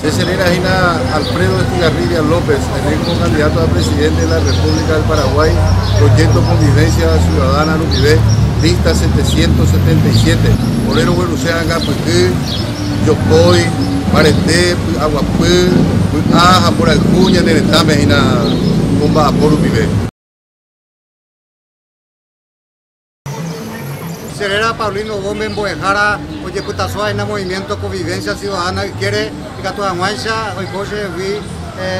Che cheréra hína Alfredo Estigarribia López, elékto kandidáto a presidénte de la Repúblika del Paraguái, proyékto Konvivénsia Siudadána rupive, lista 777. Ore rogueruse ha'anga pyhy, jokói, mbarete, py'aguapy, vy'a ha mborayhu ñane retãme hína omba'apo rupive. Che réra Paulino Gómez mbo'ehára ojepytaso ha'éna Movimiento Convivencia Ciudadana ykére ikatu hag̃uáicha oiko che rehegui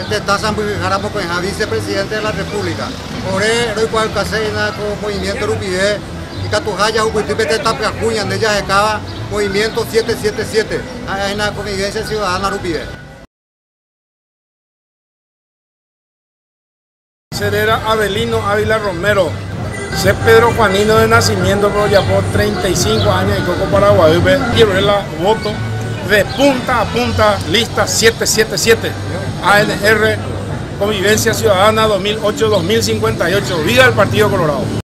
tetã sãmbyhyhára mokõiha Vice Presidente de la República. Ore roikuaaukaséina ko movimiento rupive ikatuha jahupyty pe tetã pyahu ñande jahekáva Movimiento 777 ha'e hína Convivencia Ciudadana rupive. Che réra Avelino Ávila Romero. Che Pedro Juanino de nacimiento, pero ojapo 35 años aiko ko Paraguaýpe, iroe la voto de punta a punta lista 777 ANR Convivencia Ciudadana 2008-2058. Viva el Partido Colorado.